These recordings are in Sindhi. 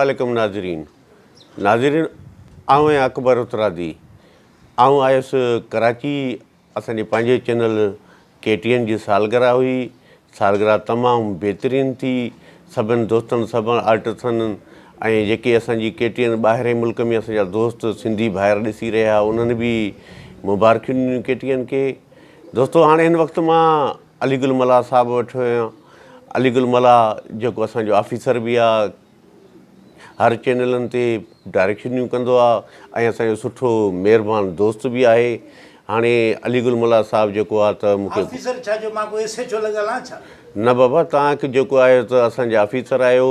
عليڪم ناظرين ناظرين آئون آهيان اڪبر هٿرادي آئون آيس ڪراچي اسان جي پنهنجي چينل ڪي ٽي اين جي سالگرهه هئي سالگرهه تمام بهترين ٿي سڀن دوستن سڀن آرٽسن ۽ جيڪي اسان جي ڪي ٽي اين ٻاهرين ملڪ ۾ اسان جا دوست سنڌي ڀائر ڏسي رهيا انهن به مبارڪيون ڏنيون ڪي ٽي اين کي دوستو هاڻي هن وقت مان علي گل ملاح صاحب وٽ ويان علي گل ملاح جيڪو اسان جو آفيسر به آهي هر چينلن تي ڊائريڪشنيون ڪندو آهي ۽ اسان جو سٺو مهربان دوست به آهي هاڻي علي گل ملاح صاحب جيڪو آهي ته مون کي آفيسر ڇا جو مان ڪو ايس ايڇ او لڳل آهيان ڇا نه بابا توهان کي جيڪو آهي ته اسان جا آفيسر آهيو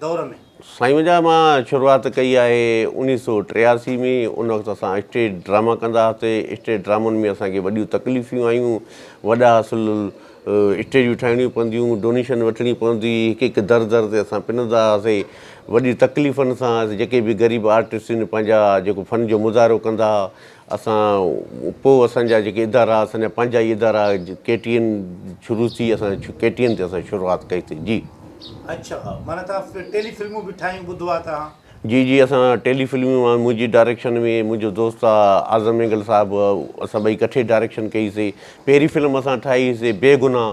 دور ۾. سائين منهنجا مان شروعات ڪئي آهي انيس سو ٽياسي ۾ ان وقت اسان اسٽيج ڊراما ڪندا هئاسي اسٽيج ڊرامن ۾ اسان کي وڏيون تڪليفيون آيون وڏا اصل اسٽيجون ٺاهڻيون پونديون ڊونيشن وٺڻي پوندي هڪ هڪ در در تي اسان پنندا هئاسي وڏي تڪليفن سان جيڪي به غريب آرٽسٽن پنهنجا جيڪو فن جو مظاهرو ڪندا اسان پوء اسان جا جيڪي ادارا اسان جا پنهنجا ئي ادارا ڪي ٽي اين شروع ٿي اسان ڪي ٽي اين تي اسان شروعات ڪئي ٿي جي. اڇا معنيٰ توهان ٽيلي فلمون به ٺاهيون ٻڌو آهي توهان. جي جي اسان ٽيلي فلمون مان منهنجي ڊائريڪشن ۾ منهنجو دوست آ اعظم مينگل صاحب اسان ٻئي ڪٺي ڊائريڪشن ڪئي سي پهرين فلم اسان ٺاهي سي بي گناھ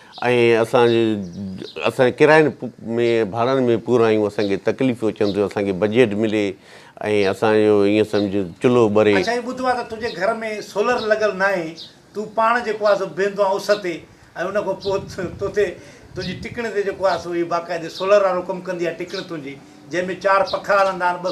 ۽ اسان اسان جي ڪراين ۾ ڀاڙن ۾ پورائيون اسان کي تڪليفون اچن ٿيون اسان کي بجيٽ ملي ۽ اسان جو ايئن سمجهه چلهو ٻري. اڇا هي ٻڌو آ ته تنهنجي گهر ۾ سولر لڳل ناهي تون پاڻ جيڪو آ سو بيهندو آ اس تي ۽ ان کان پوء توتي تنهنجي ٽڪڻي تي جيڪو آ سو هي باقاعدي سولر وارو ڪم ڪندي آ ٽڪڻي تنهنجي جنهن ۾ چار پکا هلندا آهن ٻه